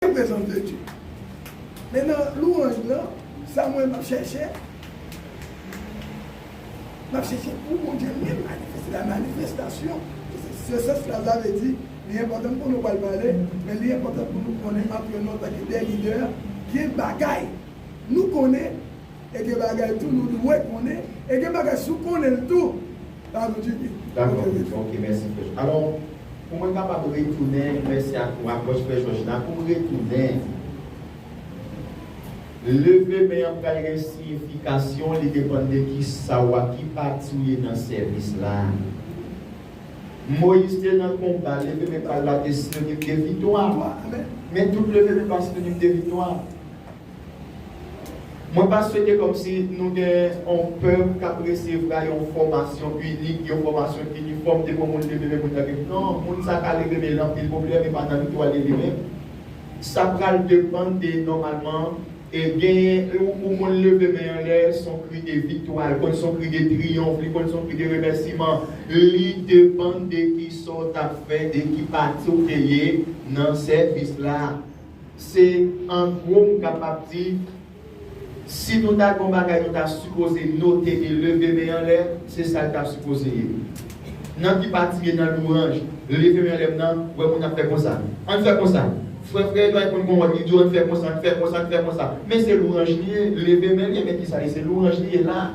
Mwen prezans de Dye. Men nan louanj nan, sa mwen map chèche, map chèche pou Bondye menm manifeste, la manifestation de ses se sans la sa vle di li enpòtan pou nou pral pale, men li enpòtan pou nou konnen antre nou antanke des leaders gen bagay nou konnen e gen bagay tou nou dwe konnen e gen bagay si w konnenl tou Pardon Jimmy. Dakò ok mèsi frè jòj. Alò pou mwen kapab retounen mèsi ak ou apwòch frè jòj la pou m retounen leve men an pral gen siyifikasyon li depann de kisa w a ki pati w ye nan sèvis la Moyiz te nan konba leve men pa l la te sinonim de viktwa men tout leve men pa sinonim de viktwa Mwen pa swete kòmsi nou gen yon pèp k ap resevra yon fòmasyon inik, yon fòmasyon inifòm depi yon moun leve men pou l ta gen. Non, moun sa a ka leve men l anpil pwoblèm epa nan tout wa l leve men. Sa pral depann de nòmalman e genyen yon pou moun leve men anlè s on kri de viktwa, l konn s on kri de triyonf, li konn s on kri de remèsiman. Li depann de kisa w t ap fè, de ki pati w te ye nan sèvis la. Se an gwo m kapab di, si nou ta gen yon bagay nou ta sipoze note e leve men anlè, se sa l ta sipoze ye. Nan ki pati ye nan louwanj leve men anlè m nan? Wè moun ap fè konsa. An n fè konsa. Frè frè Edward konn gen yon wòd li di w an n fè konsa, n fè konsa, n fè konsa. Men se louwanj li ye, leve men l ye men ki sa l ye? Se louwanj li ye la.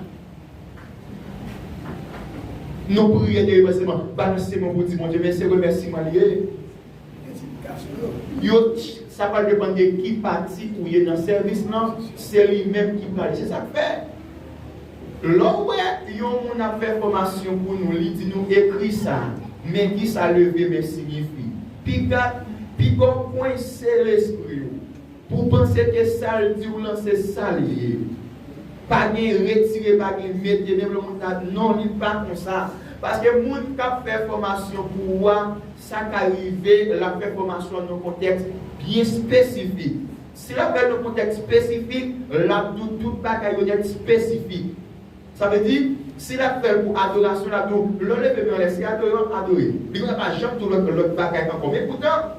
Nou priye deremanseman, balanse men w pou w di Bondye mèsi, se remèsiman l ye. Yo t sa pral depann de ki pati ou ye nan sèvis lan se li menm ki pral se sak fè lè w wè yon moun ap fè fòmasyon pou nou li di nou ekri sa men kisa leve men siyifi piga piga w kwense lespri w pou w panse ke sa l di w lan se sa l ye pa gen retire pa gen mete menm lè moun ta non li pa konsa paske moun kap fè fòmasyon pou ou a Sa ka rive l ap fè fòmasyon an nan yon kontèks byen espesifik. Si l ap fè l nan yon kontèks espesifik, l ap di w tout bagay yo nèt espesifik. Sa vle di, si l ap fè l pou adorasyon, l ap di w lè w leve men w anlè se adore w ap adore. Li pa janm di w lòt bagay ankò. Men poutan.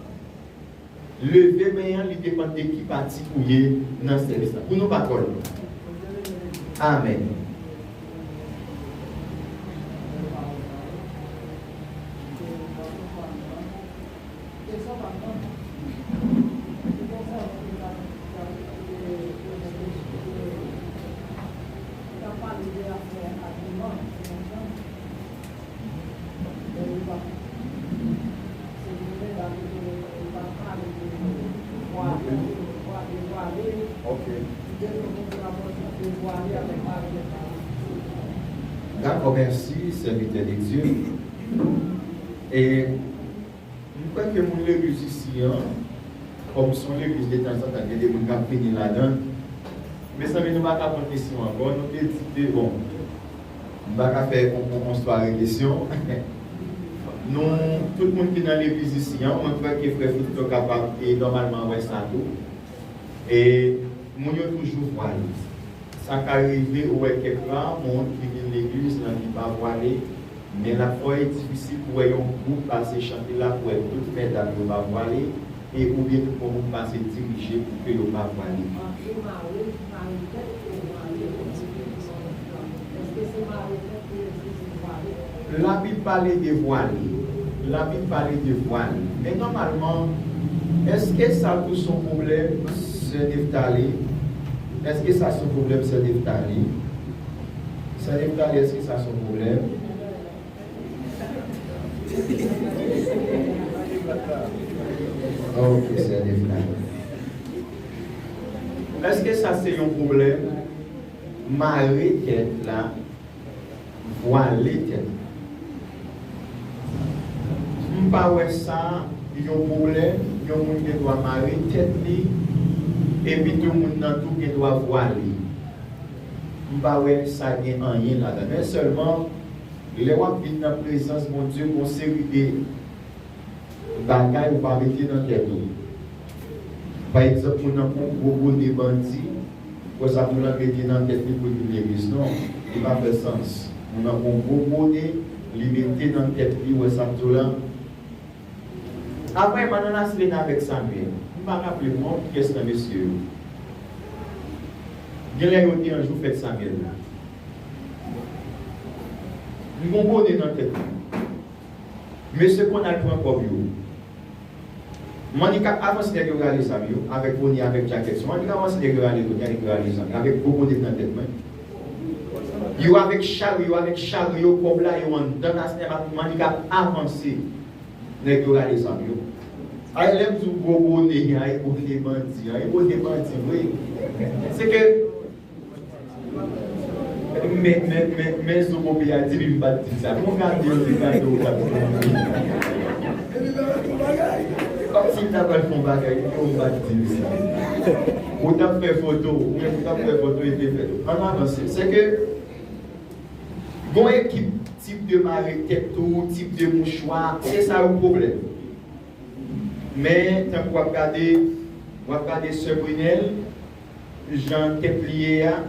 Leve men an li depann de ki pati ou ye nan sèvis la. Pou nou patwòn. Amen. Dakò mèsi sèvitè de Dye e m kwè ke moun legliz isi an kòm son legliz de tan zan tan gen de moun kap vini ladann mezanmi nou pa ka pran kesyon ankò nou te di ke bon M pa ka fè on sware kesyon. Nou tout moun ki nan legliz isi an, mwen kwè ke frè Fricto kapab e nòmalman wè sa tou. E moun yo toujou vwale. Sa ka rive ou wè kèk ra moun ki vin legliz lan ki pa vwale, men lafò e difisil pou wè yon gwoup pase chante la pou wè tout mèdam yo pa vwale. E ou byen tout bon moun pase dirije pou ke yo pa vwale. Anpil mare ki mare tèt pou yo vwale yo di ke li son lòt plan. Eske se mare tèt pou yo di se vwale? La Bib pale de vwale. La Bib pale de vwale. Men nòmalman, eske sa tou son pwoblèm, sè Nephtalie? Eske sa son pwoblèm, sè Nephtalie? Sè Nephtalie, eske sa son pwoblèm? Eske sa se yon pwoblèm? Mare tèt la, vwale tèt la. M pa wè sa yon pwoblèm, yon moun gen dwa mare tèt li, epi tou moun nan tou gen dwa vwale. M pa wè sa gen anyen ladan l. Men sèlman. Lè wap vin nan prezans Bondye gon seri de bagay ou pa mete nan tèt ou pa egzanp moun nan pran yon gwo bone bandi wè sa moun nan mete nan tèt li poul vin legliz non li pa fè sans moun nan pran yon gwo bone li mete nan tèt li wè sam diw la aprè manan naslene avèk samye m pa raplem non kiyès nan mesye yo genlè yo te an jou fèt samyèl la. M gon bone nan tèt mwen. Mesye konn al pran kòb yo. Monica avanse nèg yo rale zam yo avèk bone avèk jakèt san Monica avanse nèg yo rale bone a nèg yo rale zam yo avèk gwo bone nan tèt mwen. Yo avèk chal yo avèk chal yo kòb la yo anndan tas nèg la Monica ap avanse nèg yo rale zam yo. Ay lè m di w gwo bone a e bone bandi an e bone bandi vre se ke Men zobobi a di li m pat di sa. Konnya l di l di gade w tap di m wi. Depi m ta pral fon bagay. Kòmsi m ta pral fon bagay li di w m pat di l sa. Ou tap fè foto ou menm ou tap fè foto e te fè. Ann avanse. Se ke gon ekip tip de mare tèt tou, tip de mouchwa, se sa yo pwoblèm. Men tankou w ap gade w ap gade sè Brinelle. Jan tèt li ye a,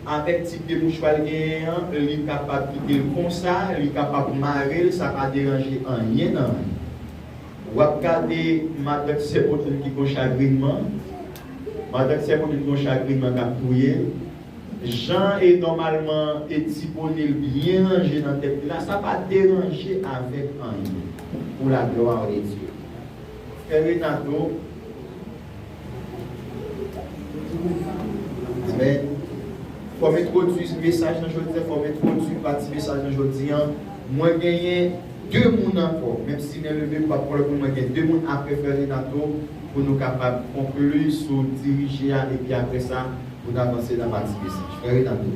avèk tip de mouchwa l genyen an, li kapab kite l konsa, li kapab mare l, sa pa deranje anyen nan li. W ap gade matant sè Pauline ki gon chagrinman, matant sè Pauline gon chagrinman k ap touye l. Jan e nòmalman e ti bone l byen ranje nan tèt li la, sa pa deranje avèk anyen. Pou la gloire de Dieu. Fè Renato. Amen. Fò m entwodui mesaj nan jodi an, fò m entwodui pati mesaj nan jodi an. Mwen genyen 2 moun ankò, menm si men leve m pa pran lòt moun, mwen gen 2 moun aprè frè Renato pou nou kapab konkli sou dirije a epi aprè sa pou n avanse nan pati mesaj. Frè Renato.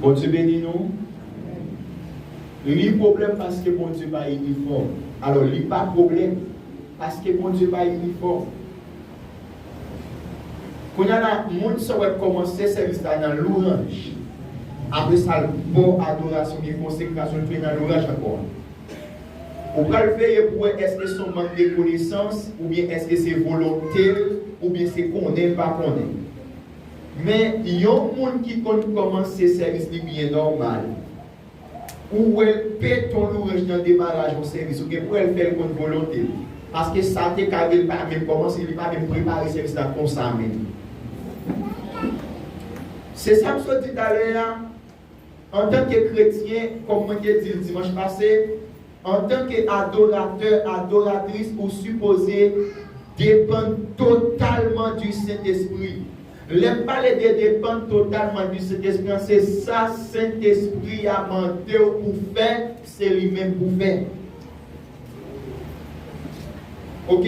Bondye beni nou Li pwoblèm paske Bondye pa inifòm alò li pa pwoblèm paske Bondye pa inifòm Kounya la moun sa wè kòmanse sèvis la nan louranj apresa l bò adorasyon gen konsekrasyon l fè nan louranj ankò Ou pral veye pou wè èske son mank de konesans oubyen èske se volonte l oubyen se konnen l pa konnen. Men yon moun ki konn kòmanse sèvis li byen nòmal ou wèl pe ton louranj nan demaraj yon sèvis ou gen pou wèl fèl kont volontel paske sa te ka rive li pa menm kòmanse li pa menm prepare sèvis la konsa menm se sam sot di talè a. Antanke kretyen, kòm mwen te di l dimanch pase, antanke adoratè, adoratris ou sipoze depann totalman di Sentespri. Lè m pale de depann totalman di Sentespri an se sa Sentespri a mande w pou fè se li menm pou fè. Ok,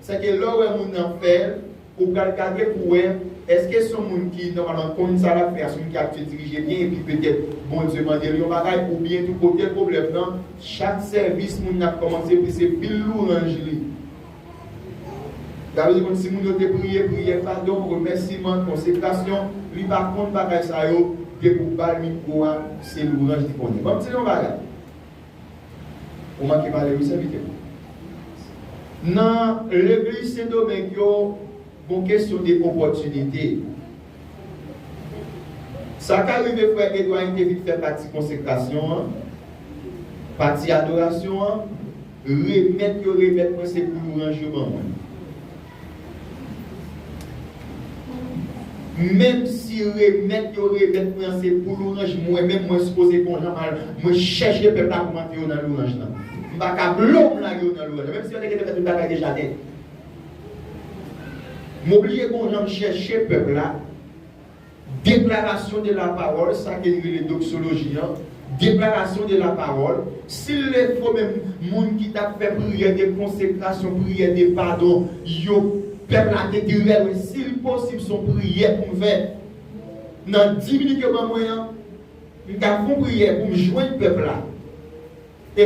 sèke lè w wè moun nan fè l, Ou pral gade pou wè èske son moun ki nòmalman konn sa lap fè a, son moun ki abitye dirije byen epi petèt Bondye mande l yon bagay oubyen tou kote pwoblèm nan chak sèvis moun nan ap kòmanse pi se pil louranj li Davidi konn si moun yo te priye, priyè, padon, remèsiman, konsekrasyon, li pa konn bagay sa yo depi ou bal mikwo a se louranj li konnen. Banm di nou yon bagay. Ou manke pale wi sèvitè. Nan legliz sendomeng yo gon kesyon de opòtinite. Sa ka rive frè Edwayne te vin fè pati konsekrasyon an, pati adorasyon an, remèt yo remèt mwen se pou louranj yo ban mwen. Menm si remèt yo remèt mwen an se pou louranj mwen menm mwen sipoze gon jan mal mwen chèche pèp la pou m antre yo nan louranj lan. M pa ka blo m lage yo nan louranj lan menm si yo te gentan fè tout bagay deja nèt. M oblije gon jan m chèche pèp la. Déclaration de la parole sa ke li rele doxologie an, déclaration de la parole, si l le faut menm moun ki t ap fè priyè de konsekrasyon, priyè de padon yo, pèp la te dirè l si l posib s on priyè pou m fè nan di minit yo ban mwen an, m ka fon priyè pou m jwenn pèp la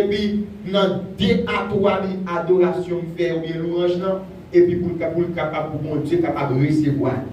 epi nan de a twa minit adorasyon m fè oubyen louranj lan epi pou l kapab pou Bondye kapab resevwa l.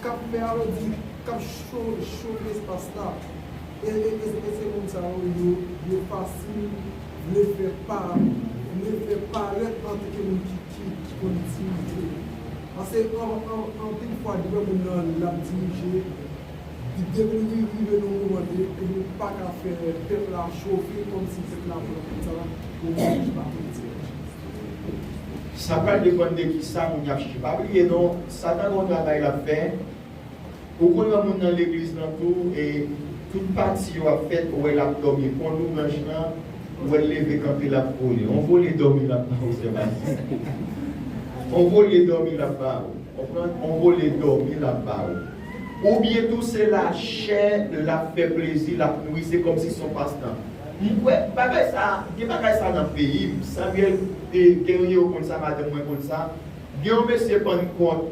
k ap fè alodi, k ap chofe espas la. E se moun sa yo yo fasil vle fè vle fè parèt an ke moun ki ki konn dirije. Pase anpil fwa depi yon moun nan l ap dirije, li depi li rive nan yon moman de e li pa ka fè pèp la chofe kòmsi pèp la pran moun sa pou yon moun ki pa politisyen. Sa pral depann de kisa moun y ap chèche. Pa bliye non. Satan gon travay lap fè, ou konn nan moun nan legliz lan tou e tout pati yo ap fèt ou wè lap dòmi pon louvranj lan ou wèl leve kanpe lap vole on vole dòmi lap ba ou sè Basil on vole dòmi lap ba ou konprann on vole dòmi lap ba ou ou byen tou se lachè lap fè plezi lap nouri se kòmsi son pastan m kwè bagay sa gen bagay sa nan peyim Samuel e Guerrier ou konn sa madanm mwen konn sa. Gen yon mesye pannkòt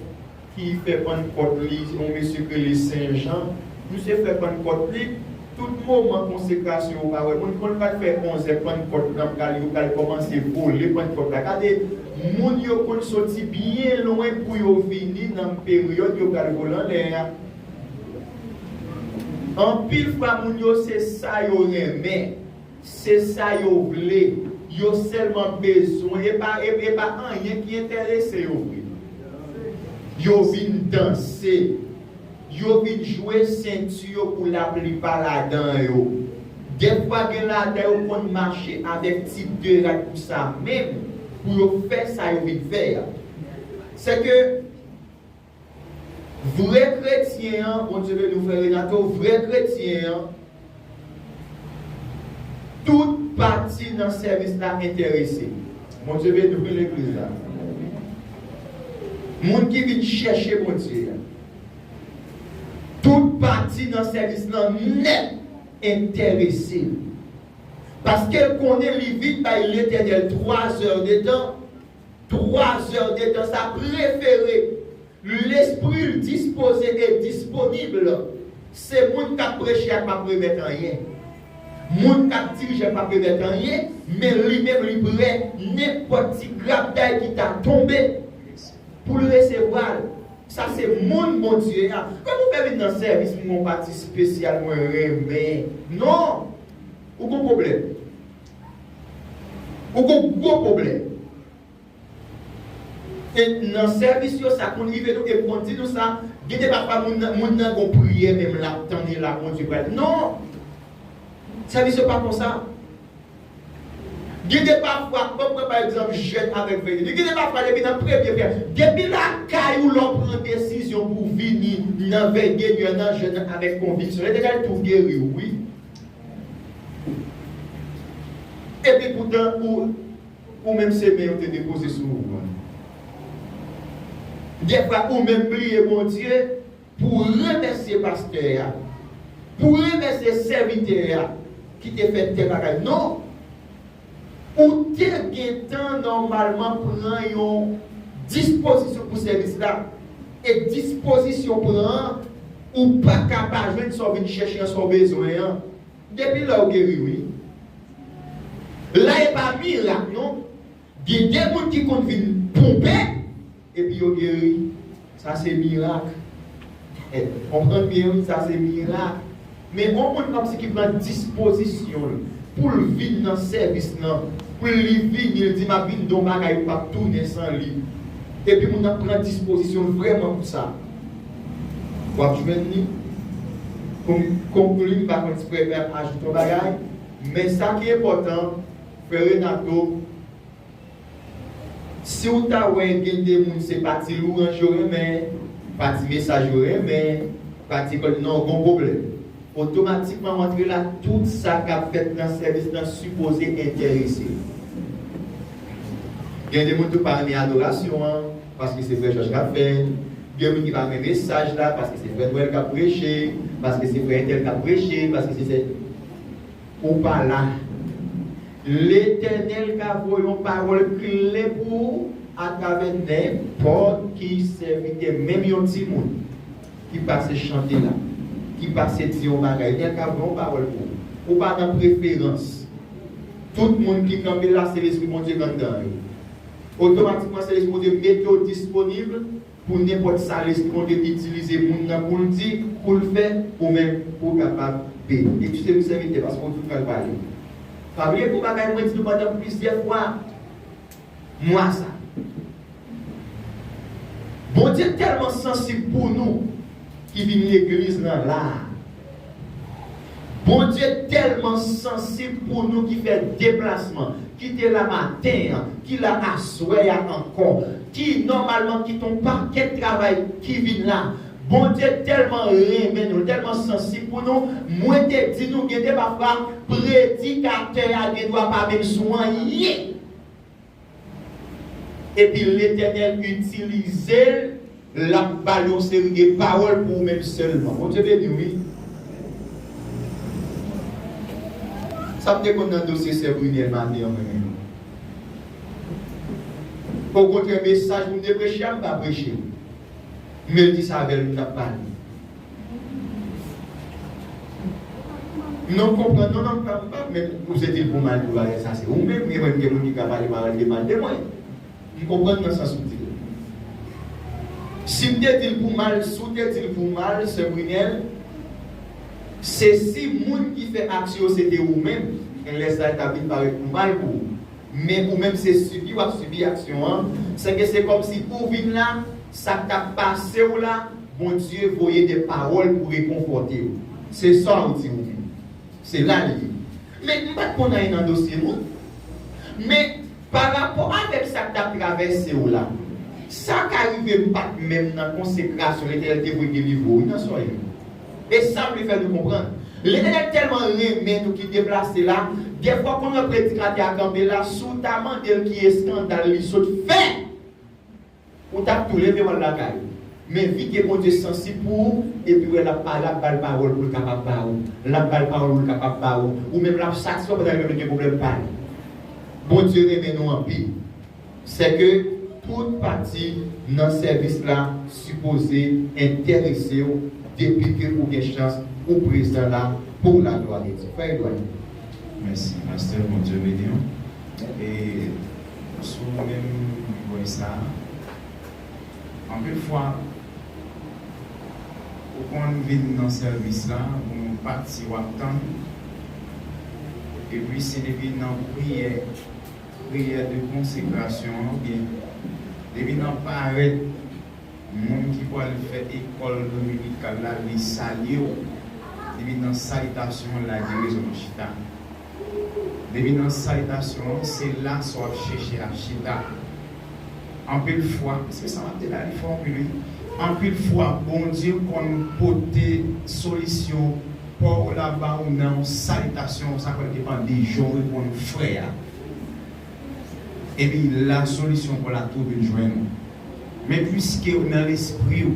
ki fè pannkòt li, se yon mesye ki rele Sen Jan. Misye fè pannkòt li, tout moman konsekrasyon yo pa wè moun, kon li pral fè onzè pannkòt lan pral yo pral kòmanse vole pannkòt la. Gade moun yo konn soti byen lwen pou yo vini nan peryòd yo pral vole anlè a. Anpil fwa moun yo se sa yo renmen. Se sa yo vle. Yo sèlman bezwen. E pa e pa anyen ki enterese yo vre non. Yo vin danse. Yo vin jwe senti yo pou laplipa ladan yo. Dèfwa gen ladan yo konn mache avèk ti de rad pou sa menm, pou yo fè sa yo vin fè a. Sèke. Vrè kretyen an Bondye beni w frè Renato vrè kretyen an tout pati nan sèvis la entèrese Bondye beni w wi legliz la moun ki vin chèche Bondye a tout pati nan sèvis lan nèt entèrese l paske l konnen li vin bay Letènèl 3 zè de tan 3 zè de tan sa prefere l lespri l dispoze e disponib se moun k ap preche a p ap remèt anyen moun k ap dirije a p ap remèt anyen men li menm li prè nenpòt ti grapday ki ta tonbe pou l resevwa l sa se moun Bondye a kòm ou fè vin nan sèvis m gen yon pati spesyal mwen renmen non ou gon pwoblèm. Ou gon gwo pwoblèm. Se nan sèvis yo sa konn rive nou epi konn di nou sa, gen de pafwa moun nan moun nan gon priyè menm lap tann e la Bondye pral non! Sèvis yo pa konsa. Gen de pafwa, banm pran pa egzanp jèn avèk vèy li, gen de pafwa depi nan premye frè, depi lakay ou lè w pran desizyon pou w vini nan vèy de nuit an nan jèn nan avèk konviksyon, yo deja tou geri w wi. Epi poutan ou menm se men yo te depoze sou ou an. Dèfwa ou menm bliye Bondye pou w remèsye pastè a, pou w remèsye sèvitè a ki te fè tè bagay non. Ou te gentan nòmalman pran yon dispozisyon pou sèvis la, e dispozisyon w pran an, ou pa ka pa jwenn sa w vin chèche an, sa w bezwen an, depi lè w geri wi. La e pa mirak non, gen de moun ki konn vin ponpe. Epi yo geri, sa se mirak. Konprann byen wi, sa se mirak. Men yon moun kòmsi ki pran dispozisyon l pou l vin nan sèvis nan, pou l li vini, l di m ap vin don bagay m pap tounen san li. Epi moun nan pran dispozisyon l vrèman pou sa. W ap jwenn li. Konklin, m pa konn si frè Eber ap ajoute yon bagay, men sa ki enpòtan, frè Renato, Siw ta wè gen de moun se pa ti louranj yo renmen, pa ti mesaj yo renmen, pa ti kòd non gon pwoblèm. Otomatikman w antre la tout sa kap fèt nan sèvis lan sipoze enterese w. Gen de moun tou pa renmen adorasyon an paske se frè Jòj kap fè l, gen moun ki pa renmen mesaj la paske se frè Nwèl kap preche, paske se frè entèl kap preche, paske se sè. Ou pa la. Letènèl ka voye yon pawòl kle pou ou atravè nenpòt ki sèvitè, menm yon timoun ki pase chante la, ki pase di yon bagay la, el ka voye yon pawòl pou ou. Ou pa nan preferans. Tout moun ki kanpe la se Lespri Bondye k anndan yo. Otomatikman se Lespri Bondye mete w disponib. Pou nenpòt sa Lesprode itilize moun nan pou l di, pou l fè, ou menm pou w kapab beni. Ekskize m sèvitè, paske ou toujou pral pale. Pa bliye gwo bagay mwen di nou pandan plizyè fwa mwa sa a. Bondye tèlman sansib pou nou ki vin legliz lan la a. Bondye tèlman sansib pou nou ki fè deplasman, ki te la maten an, ki la aswè a ankò, ki nòmalman kite yon pakèt travay ki vin la. Bondye tèlman renmen nou, l tèlman sansib pou nou, mwen te di nou gen de pafwa predikatè a gen dwa pa menm sou anyen. Epi Letènèl itilize l lap bal yon seri de pawòl pou ou menm sèlman. Bondye beniw wi. Sam te konn nan dosye sè Brunelle maten an mwen menm. Okontrè mesaj poum te preche a m pa preche l. Menl di sa avèl m tap pale. Non konprann non non pam pam men ou se dil pou mal pou bagay sa se ou menm gen menm gen moun ki ka pale pawòl de mal de mwen m konprann nan sans ou dil sim te dil pou mal si w te dil pou mal sè Brunelle se si moun ki fè aksyon se te ou menm gnlè sa li tap vin parèt pou mal pou ou. Men ou menm se sibi wap sibi aksyon an, sèke se kòmsi ou vin la, sak tap pasew la Bondye voye de pawòl pou rekonfòtew. Se sa ou di ou vin. Se la li ye. Men m pat konn anyen nan dosye moun. Men parapò avèk sak tap travèsew la, sa ka rive m pat menm nan konsekrasyon Letènèl te voye delivre ou wi nan sòy. E sa pli fè nou konprann. Letenèl tèlman renmen nou ki deplase la, dèfwa konn wè predikatè a kanpe la, si w ta mande l ki eskandal li sot fè, ou t ap tou leve w al lakay ou. Men vi ke Bondye sansib pou ou, epi wè l ap pale, ap ba l pawòl pou l kapab ba ou. L ap ba l pawòl pou l kapab ba ou. Ou menm l ap satisfè w pandan li menm li gen pwoblèm pa li. Bondye renmen nou anpil. Sè ke tout pati nan sèvis la sipoze entèrese w depi ke ou gen chans ou prezan la pou la glwa de Dye. Frè Edward. Mèsi pastè Bondye beniw e sou menm voy sa anpil fwa ou konn vin nan sèvis la gon yon pati wap tann epi se depi nan priyè Priyè de konsekrasyon an gen depi nan parèt moun ki pwal fè ekòl dominikal la li salye w depi nan salitasyon an la direzon an chita depi nan salitasyon an se la sa w ap chèche ap chita. Anpil fwa se sa map di la li fò anpil wi anpil fwa Bondye konn pote solisyon paw la baw nan yon salitasyon sa pral depan de janw reponn frè a epi la solisyon paw la tou vin jwenn ou men pwiskew nan lespriw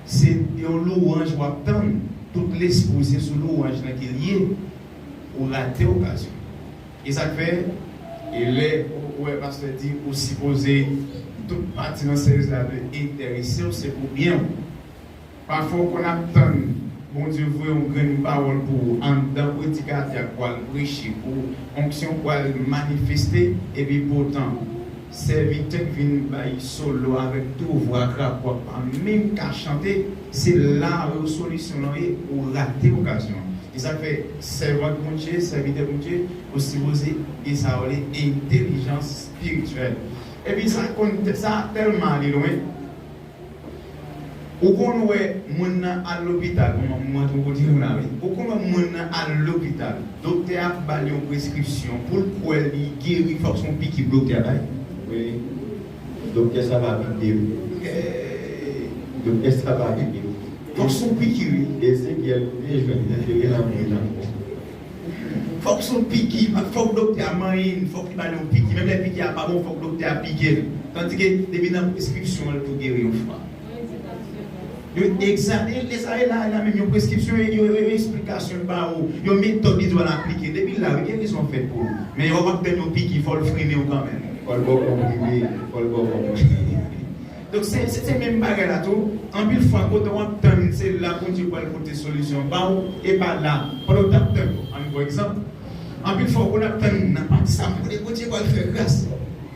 se yon louwanj wap tann tout lespriw se sou louwanj lan ke liye ou rate okazyon. Esak fè e lè ou wè pastè di ou sipoze tout pati nan sèvis la dwe enteresew se pou byenw pafwa ou konn ap tann Bondye voye yon grenn pawòl pou ou anndan predikatè a pwal preche pou onksyon pwal manifeste epi poutan Sèvitè k vin bay solo avèk tou vwa grap wap pa menm ka chante se la yo solisyon lan ye ou rate okazyon an e sak fè sèvant Bondye sèvitè Bondye ou sipoze gen sa yo rele entelijans spirityèl epi sa konn sa tèlman ale lwen. Ou konn wè moun nan al lopital bon mwen mwen twò kote nou la wi ou konn wè moun nan al lopital doktè a bal yon preskripsyon poul kwè li geri fòk son piki doktè a bay wi doktè sa pa vide wi eeyy doktè sa pa vide wi fòk son piki wi Ezekyèl te jwenn enterè nan moun nan. Fòk son piki, fòk doktè a manyen li, fòk li ba li yon piki, menm lè piki a pa bon fòk doktè a pike l. Tandike depi nan preskipsyon an li tou geri yon fwa. Yo egzamine l, e sa e la a la menm, yon preskipsyon e yon esplikasyon yo ba ou, yon metòd li di w al aplike l. Depi l la a wi gerison an fèt pou ou. Men yon wap tann yon piki fò l frennen w kanmenm. Fò l ba w konprime, fò l ba w konprime. Donk se se menm bagay la tou, anpil fwa kote wap tann se la Bondye pral pote solisyon ba ou e pa la pandan ou tap tann yo. Ann pran egzanp, anpil fwa wap ap tann nan pati sa pou kote Bondye pral fè gras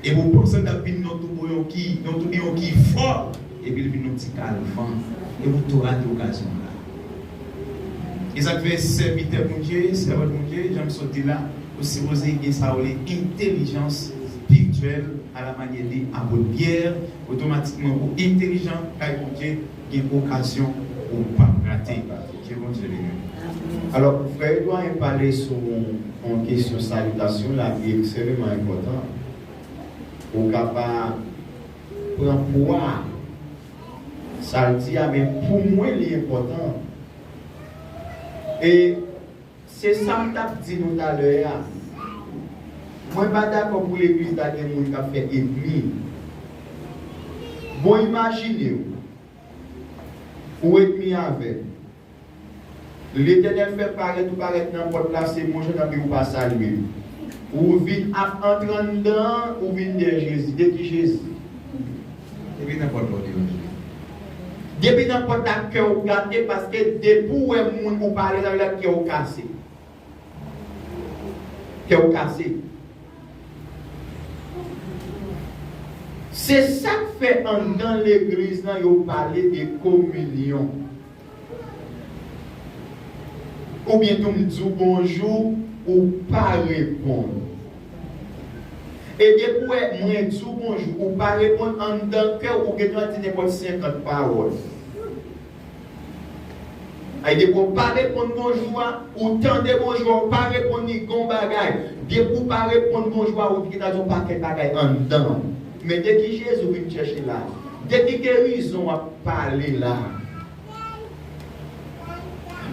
epi ou panse l tap vin nan tou bon yon ki nan tou yon ki fò epi l vin yon ti kal van epi ou tou rate okazyon an la. E sak fè sèvitè Bondye, sèvant Bondye, jan m sot di la, ou sipoze gen sa yo rele entelijans spirityèl. A la manyè de Apot Pyè, otomatikman ou entelijan kay Bondye, gen okazyon ou pap rate. Ke Bondye beni w. Alò, frè e dwayen pale sou yon kesyon salitasyon la ki ekseveman enpòtan. Ou ka pa pran pwa sa l di a men pou mwen li enpòtan. E. Se sam tap di nou talè a. Mwen pa dakò pou legliz la gen moun kap fè enmi. Bon imajinew ou enmi avèm. Letènèl fè parèt ou parèt nan pòt la se bonjou nan biw pa salyem. Ou vin ap antre anndan ou vin dèyè Jezi. De ki Jezi? Depi nan pòt la ou te yon jwif. Depi nan pòt la kè ou gate paske depi ou wè moun ou pa alèz avèl la kè ou kase. Kè ou kase. Se sak fè anndan legliz lan yo pale de kominyon. Ou byen tou m di w bonjou ou pa reponn. E depi w wè mwen di w bonjou ou pa reponn anndan kè w ou gen dwa di nenpòt 50 pawòl. E depi w pa reponn bonjou a, ou tande bonjou a ou pa reponn li gen w bagay. Depi w pa reponn bonjou a ou gen dwa di yon pakèt bagay anndan w. Men de ki jezi ou vin chèche la. De ki gerizon wap pale la.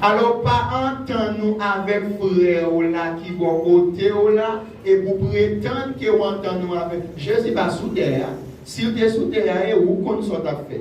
Alò pa antann ou avèk frè ou la ki bò kote ou la epi ou pretann ke ou antann ou avèl. Jezi pa sou tè a. Si l te sou tè a e ou konn sa w tap fè.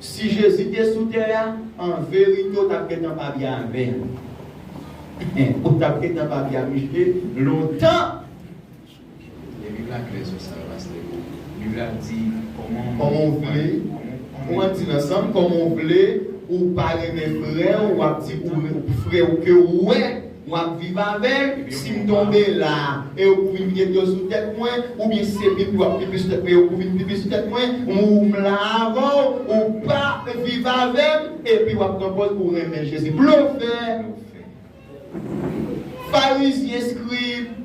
Si Jezi te sou tè a, an verite w tap gentan pa byen avè l. Ou tap gentan pa byen avè l depi lontan. Lè Bib la klè sou sa Pastè Bo. Bib la di kòman w Kòman w vle, ou an di l ansanm, kòman w vle ou pa renmen frè w, wap di frè w ke ou wè. Mwen ap viv avèk, si m tonbe la e yo pou vin gete yo sou tèt mwen, oubyen si se pipi w ap pipi sou tèt mwen e yo pou vin pipi sou tèt mwen, m ou m la avè w, ou pa viv avè m epi w ap pran pòz ou renmen Jezi. Blofè! Farizyen, Skrib!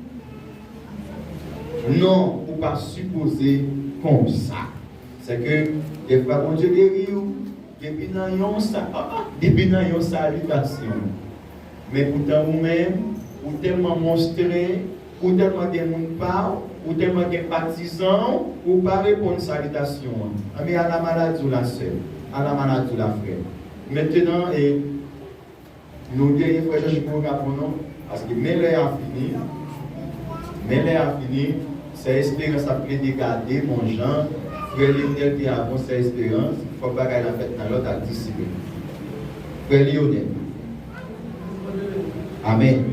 Non, ou pa sipoze konsa. Sèke dèfwa Bondye geri ou depi nan yon sa, ah, depi nan yon salitasyon. Men poutan ou menm, ou tèlman monstre, ou tèlman gen moun pa w, ou tèlman gen patizan w, ou pa reponn salitasyon an. Anben ala maladie w la sè, ala maladie w la frè. Mentenan e nou genyen frè Jean Chico Capon non, paske men lè a fini, men lè a fini. Sè esperans ap plede gade mon jan frè Lionel te avon sè esperans fòk bagay la fèt nan lòd ak disiplin frè Lionel amen.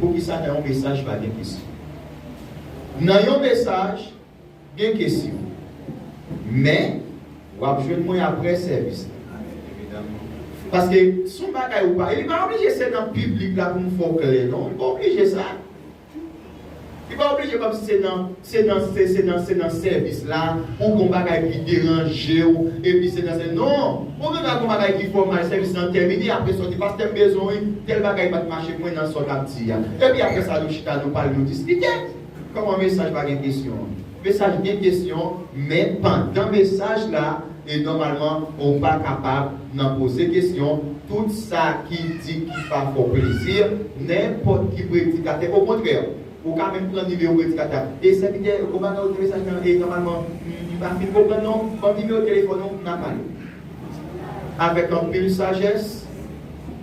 Poukisa nan yon mesaj pa gen kesyon? Nan yon mesaj gen kesyon. Men, w ap jwenn mwen apre sèvis la. Paske, s on bagay ou pa. Li pa oblije se nan piblik la pou m fè w klè non. Li pa oblije sa. Li pa oblije kòmsi se nan se nan se se nan se nan sèvis la ou gon bagay ki deranjew epi se nan se non ou gen dwa gon bagay ki fèw mal sèvis lan tèmine apre sòti pastè m bezwen wi tèl bagay pat mache kwè nan sa w tap di a epi apre sa nou chita nou pale nou diskite kòman mesaj pa gen kesyon an. Mesaj gen kesyon men pandan mesaj la e nòmalman ou pa kapab nan poze kesyon tout sa ki di ki pa fè w plezi nenpòt ki predikatè okontrè ou ka menm pran nimewo predikatè a e sèvitè gon bagay ou di nan mesaj lan e nòmalman m pa fin konprann non ban m nimewo telefòn ou n a pale avèk anpil sajès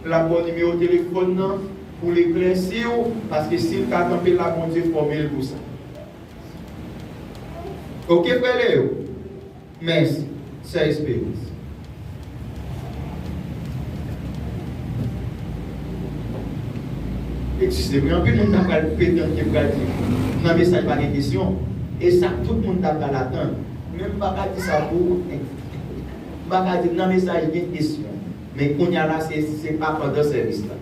l ap ba w nimewo telefòn nan pou l eklèsi w paske si l ka tanpe l la Bondye fòme l pou sa. Ok frè Leo mèsi sè esperans. Egziste wi anpil moun ta pral pretann ke pral di nan mesaj pa gen kesyon e sa tout moun ta pral atann men m pa ka di sa pou ou m pa ka di nan mesaj gen kesyon men kounya la se pa pandan sèvis la.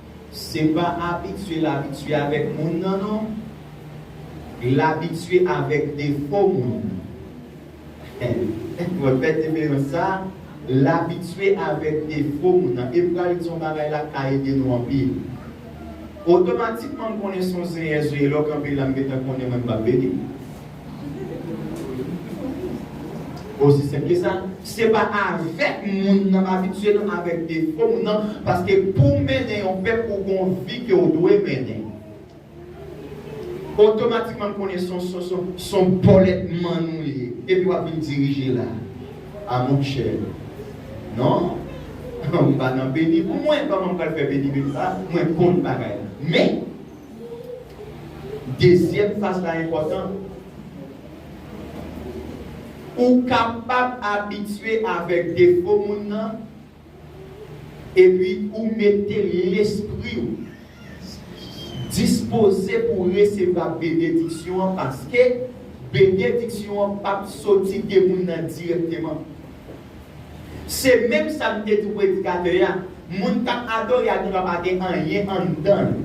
Se pa abitye l abitye avèk moun nan non. L abitye avèk defo moun nan. Wè fè diferans sa? L abitye avèk defo moun nan. E pral di yon bagay la k ka ede nou anpil. Otomatikman m konnen s on zenyèzeye lè w kanpe la m gentan konnen mwen m pa p beni. Osi senp ke sa. Se pa avèk moun nan abitye nan, avèk defo moun nan. Paske pou w mennen yon pèp, ou gon vi ke w dwe mennen. Otomatikman m konnen son son son son bòlèt mann ou ye. Epi w ap vin dirije la. A mon chè. Non. M pa nan beni pou mwen. Kòman m pral fè beni beni sa a? Mwen konn bagay la. Men. Dezyèm faz la enpòtan. Ou kapab abitye avèk defo moun nan epi ou mete lespri ou dispoze pou w resevwa benediksyon an paske benediksyon an pap soti de moun nan dirèkteman. Se menm sa m te di predikatè a, moun k ap adore a genlwa pa gen anyen anndan l.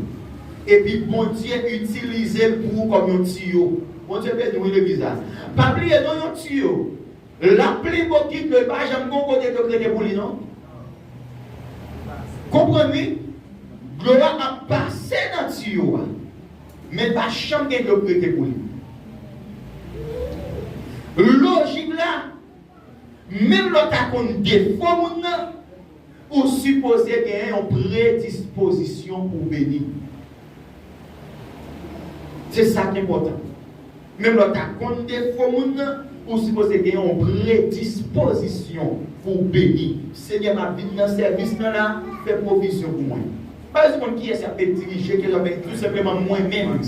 Epi Bondye itilize l pou ou kòm yon tiyo. Bondye beni w wi legliz la. Pa bliye non yon tiyo, l ap plen bokit dlo, li pa janm gen yon kote dlo k rete pou li non. Konprann wi, dlo a ap pase nan tiyo a, men l pa janm gen dlo k rete pou li. Lojik la. Menm lè w ta konn defo moun nan, ou sipoze gen yon predispozisyon pou w beni. Se sa k enpòtan. Menm lè w ta konn defo moun nan, ou sipoze gen yon predispozisyon pou w beni. Senyè, m ap vin nan sèvis nan la, fè pwovizyon pou mwen. Pa reponn kiyès yap met dirije ke lòbèy tou senpleman mwen menm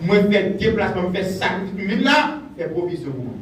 mwen fè deplasman m fè sakrifis m vin la fè pwovizyon pou mwen.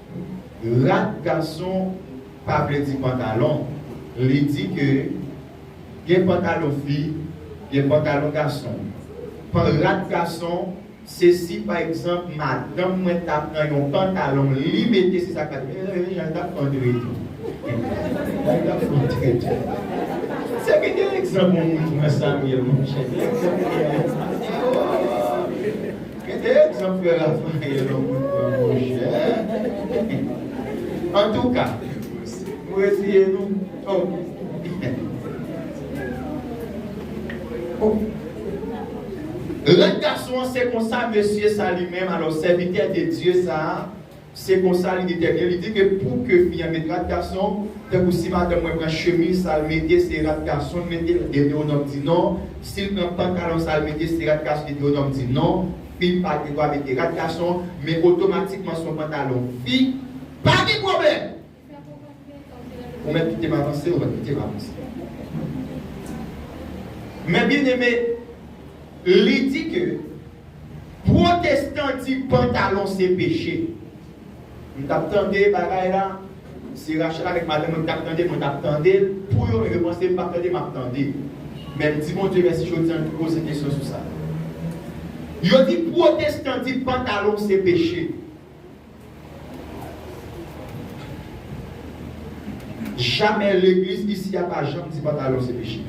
Rad gason pa vle di pantalon, li di ke gen pantalon fi, gen pantalon gason. Pan rad gason, se si pa egzanp madanm mwen ta pran yon pantalon li mete se sa k ta di, ee jan l t ap antre tou, jan l t ap antre tou. Se ke gen egzanp yon moun pran Samyèl monchè, gen egzanp ki genyen. Gen de egzanp frè Raphaël an pou n pran monchè. Antouka, m reziye nou. Lòt gason an se konsa mesye sa li menm alò sèvitè de Dye sa a Se konsa li detèmine, li di ke pou ke fi an met rad gason, tankou si madanm mwen pran chemiz sa l mete se rad gason l mete, Detewonòm di non, si l pran pantalon sa l mete se rad gason Detewonòm di non, fi pa gen dwa mete rad gason, men otomatikman son pantalon fi, pa gen pwoblèm! Ou mèt kite m avanse, ou mèt kite m avanse. Men byeneme, li di ke pwotestan di pantalon se peche. M t ap tande bagay la, se Rachel avèk madanm mwen ki t ap tande, mwen t ap tande l pou yo men yo panse m pa p tande, m ap tande. Men m di Bondye mèsi jodi an li poze kesyon sou sa. Yo di pwotestan di pantalon se peche. Jamè legliz isi a pa janm di pantalon se peche.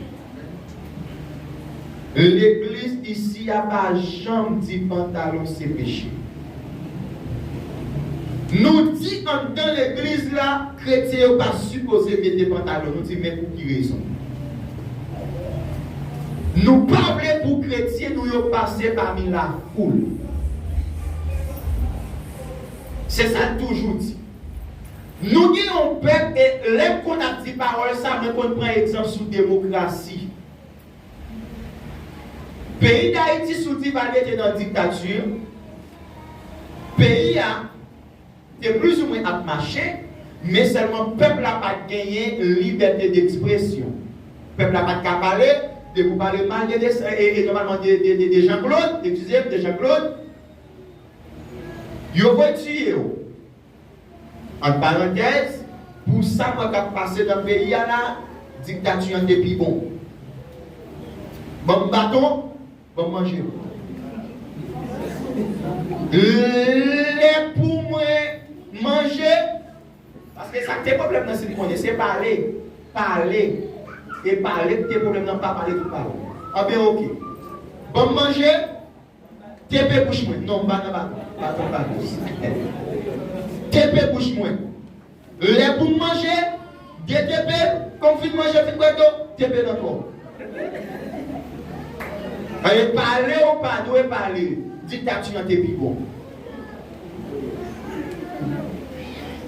Legliz isi a pa janm di pantalon se peche. Nou di anndan legliz la kretyen yo pa sipoze mete pantalon nou di men pou ki rezon. Nou pa vle pou kretyen nou yo pase pami lafoul. Se sa l toujou di. Nou gen yon pèp e lè m konn ap di pawòl sa mwen konn pran egzanp sou demokrasi. Peyi Dayiti sou Divalye te nan diktati, peyi a te plizoumwen ap mache men sèlman pèp la pa t genyen libète dekspresyon. Pèp la pa t ka pale, depi w pale mal de Desen e nòmalman de Janklod, eskize m, de Janklod, Yo vwe tiye w. Ant parantèz, pou sa mwen kap pase nan peyi a la, diktati an te pi bon. Ban m baton, ban m manje. Lè pou mwen manje, paske sa k te pwoblèm nan si n konnen, se pale, pale, e pale k te pwoblèm nan pa pale tout pawòl. Anben oke. Ban m manje. Tepe bouch mwen non m pa nan baton baton batos tepe bouch mwen lè pou m manje de tepe kon m fin manje fin bwè dlo tepe nan kò an e pale ou pa dwe pale diktati an te pi bon.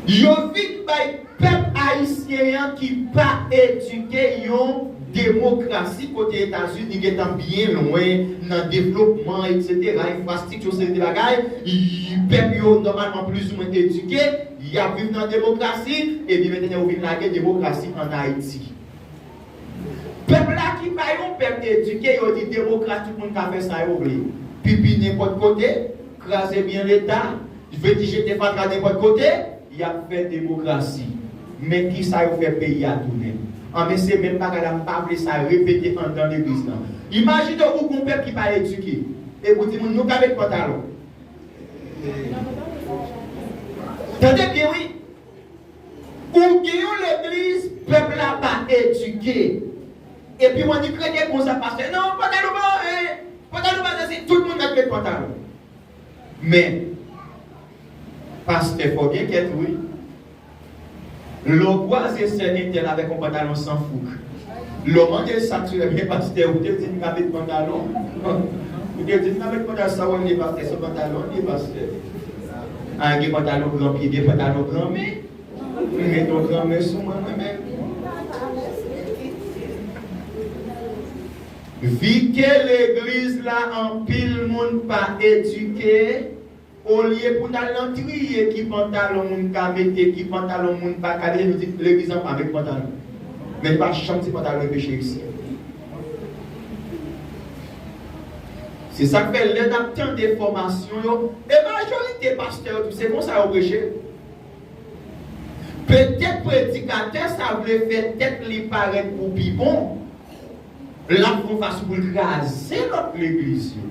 Yo vin bay pèp ayisyen an ki pa edike yon demokrasi kote Etazini gentan byen lwen nan devlopman eksetera, enfrastikti yon seri de bagay, pèp yo nòmalman plizoumwen edike, y ap viv nan demokrasi, ebyen mentennen yo vin lage demokrasi an Ayiti. Pèp la ki pa yon pèp edike yo di demokratik moun ka fè sa yo vle. Pipi nenpòt kote, kraze byen leta, jveti jete fatra nenpòt kote, yap fè demokrasi. Men kisa yo fè peyi a tounen. Anben se menm bagay la mpa vle sa repete andan legliz lan. Imajine ou gon pèp ki pa edike. Epi ou di moun nou ka met pantalon. Tande byen wi. Ou gen yon legliz pèp la pa edike epi w annik rete konsa pastè non pantalon pa anyen pantalon pa sèsi tout moun mèt met pantalon men pastè fò w gen kè tou wi lè w kwaze sè entèl avèk yon pantalon san fouk lè w mande l sak sou li men pastè ou te di m pa met pantalon ou te di m pa met pantalon sa w annik pastè se pantalon ou annik pastè. Aa gen pantalon gran pye gen pantalon gran men ou met yon gran men sou mwen mwen menm. Vike legliz la anpil moun pa edike olye pou nal nan triye ki pantalon moun ka mete ki pantalon moun paka mete nou di legliz la pa met pantalon men pa chanm ti pantalon yo peche isi. Se sa k fè lè n ap tande fòmasyon yo, e majorite pastè yo tou se konsa yo preche. Petèt predikatè sa vle fè tèt li parèt pou pi bon, l ap fon fason pou l kraze lòt legliz yo.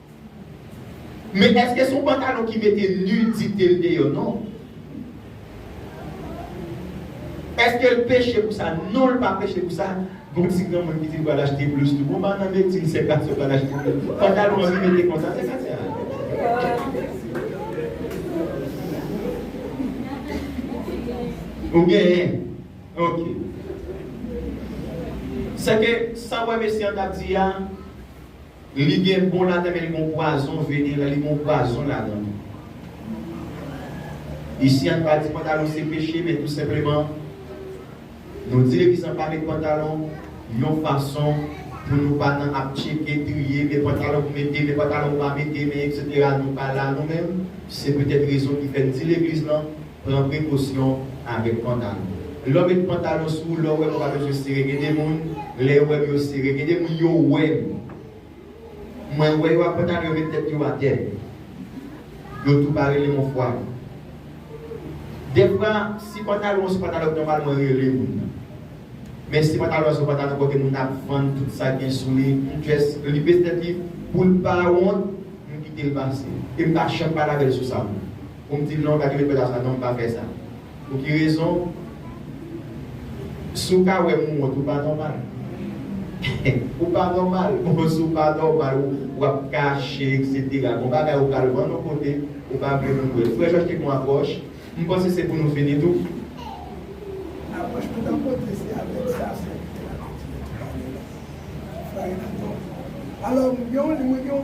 Men eske son pantalon ki mete nudite l deyò non. Eske l peche pou sa non l pa peche pou sa gon ti granmoun ki di l pral achte blus tou bon pa nan medsin se gason pral achte blus pantalon anvi mete konsa se sa a. Ou genyen ok. Sèke sa wè mesye an tap di a. Li gen bon ladan men li gon pwazon veneran li gon pwazon ladan tou. Isi a n pa di pantalon se peche men tou senpleman nou di legliz lan pa met pantalon yon fason pou nou pa nan ap tcheke, triye, men pantalon pou mete, men pantalon pou pa mete men etc nou pa la nou menm se petèt rezon ki fè n di legliz lan Pran prekosyon avèk pantalon. Lèw met pantalon sou ou lèw wèm ou pa bezwen sere gen de moun lè yo wèm yo sere gen de moun yo wèm mwen wè yo ak pantalon yo met tèt yo atè yo tou pa relem on fwa defwa si pantalon an son pantalon k nòmal mwen rele moun nan men si pantalon an son pantalon kote moun nan ap vann tout sa gen sou li m just li bese tèt li poul pa wont m kitel pase em pa janm pale avèl sou sa. Pou m di non pa gen lekòl zafè sa non m pa fè sa pou ki rezon si w ka wè m wont ou pa nòmal ou pa nòmal bon si w pa nòmal w ap kache eksetera gon bagay ou pral vann yon kote ou pa vle moun wè l frè Jòj te gon apwòch m panse se pou nou fini tou. Apwòch tout apotre se avèk sa sa ki fè apotre yo te pale la frè Renato alò m gen yon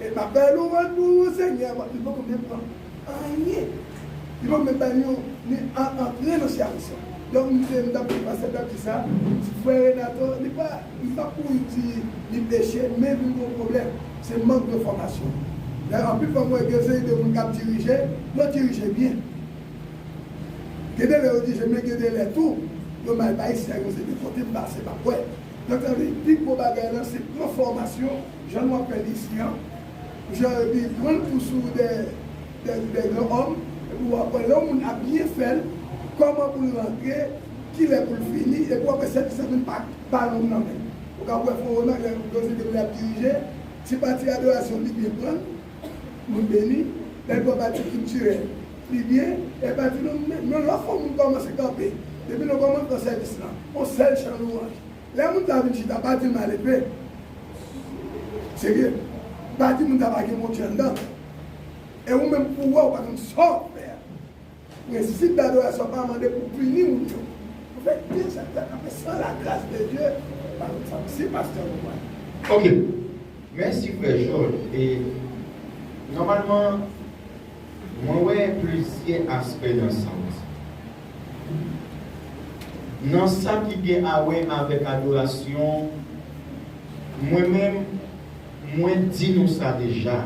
E map bay louwanj pou ou Senyè paske li poko menm pran anyen. Li poko menm bay nou yon ni an antre nan charis la. Donk m te m tap di pastè tap di sa, frè Renato li pa li pa pou li di li peche men vin gon pwoblèm se mank de fòmasyon. Lè anpil fwa m wè gen seri de moun kap dirije, yo dirije byen. Gen de lè yo dirije men gen de lè tou yo mal bay sèvis e pi kote m pase map wè. Donk sa vle di pi gwo bagay lan se pran fòmasyon. Jan nou ap fè l isi an. Jan epi pran l pou sou dè dè dè gran òm epi wap wè lè yon moun ap byen fè l kòman pou l rantre kilè pou l fini epi wap wè sèvis lan vin pa pa long nan men ou kab wè fon nan lè yon sèvis lè ap dirije ti pati adorasyon li byen pran l moun beni lè l pran pati kiltirèl li byen e pati nou men lòt fò moun kòmanse kanpe depi nan kòmansman sèvis lan yon sèl chan lwanj. Lè moun sa vin chita, pa di l malepe. Serye. Pa di moun sa pa gen bon Dye anndan l. E ou menm pou wè ou pa konn sa w ap fè a. Prensip dadorasyon pa mande pou w pini moun yo. Ou fè byen sa k fèt ap fè san lagras de Dye pa konn sa w si pastè w konprann. Ok. Mèsi frè Jòl. E nòmalman. Mwen wè plizyè aspè nan sa w di. Nan sa ki gen awè avèk adorasyon, mwen menm, mwen di nou sa deja,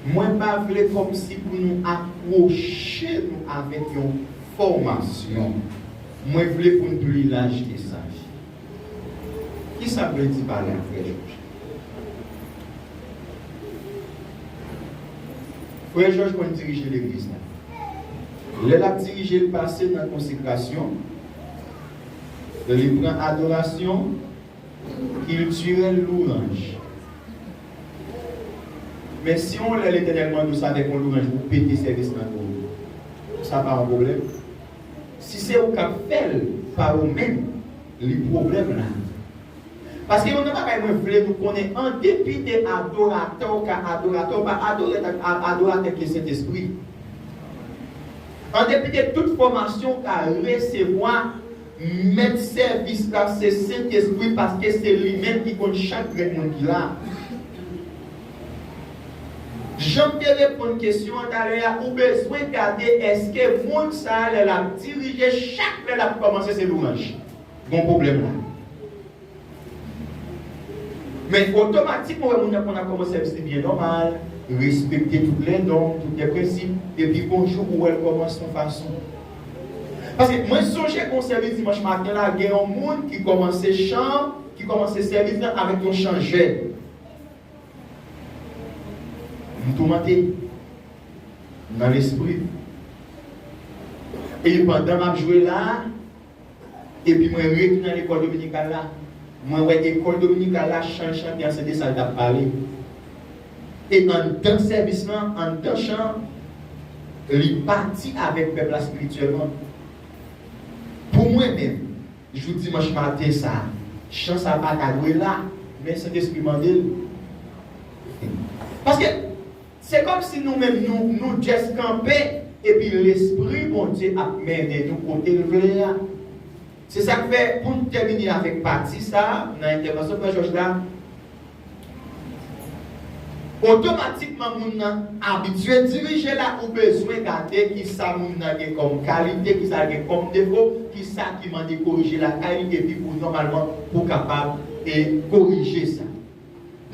mwen pa vle kòmsi pou nou akwoche nou avèk yon fòmasyon. Mwen vle pou n pli laj ke sa. Kisa vle di pale ak frè jòj. Frè jòj konn dirije legliz la. Lè lap dirije li pase nan konsekrasyon, lè li pran adorasyon, kiltirèl louranj. Men si yon lè letènèl mande w sa vek yon louranj pou pete sèvis nan do w, sa pa yon pwoblèm? Si se ou kap fèl pa ou menm li pwoblèm la. Paske yon nan bagay mwen vle nou konnen an depi de adoratè ou ka adoratè ou pa adorè tank adoratè ki gen sentespri. An depi de tout fòmasyon ou ka resevwa mèt sèvis la se sentespri paske se li menm ki konn chak grenn moun ki la. Janm te reponn kesyon an talè a ou bezwen gade eske moun sa lè lap dirije chak lè lap kòmanse se louranj gon pwoblèm la men otomatik mwen wè moun nan konn ap kòmanse ap di byen nòmal respekte tout lè nòm tout lè prensip epi gon jou ou wèl kòmanse yon fason paske mwen sonje gon sèvis dimanch maten la gen yon moun ki kòmanse chan ki kòmanse sèvis la avèk yon chan jèn M toumante nan lespri m. E pandan m ap jwe la a, epi mwen ret nan lekòl dominikal la, mwen wè ekòl dominikal la, chan l chante an se de sa l t ap pale. E anndan sèvis lan, anndan chan an, li pati avèk pèp la espirityèlman. Pou mwen menm. Jou dimanch maten sa a. Chan sa pa ta dwe la, men Sentespri mande l. Paske, se kòmsi nou menm nou, nou just kanpe, epi Lespri Bondye ap mennen nou kote l vle a. Se sa k fè, pou n tèmine avèk pati sa a nan entèvansyon Frè Jòj la, Otomatikman moun nan abitye dirije la ou bezwen gade kisa moun nan gen kòm kalite, kisa l gen kòm defo, kisa ki mande korije lakay li epi pou nòmalman pou kapab e korije sa.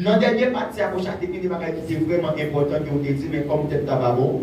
Nan dènye pati a Coach a te gen de bagay ki te vrèman enpòtan ke ou te di men kòm tèt la pa bon,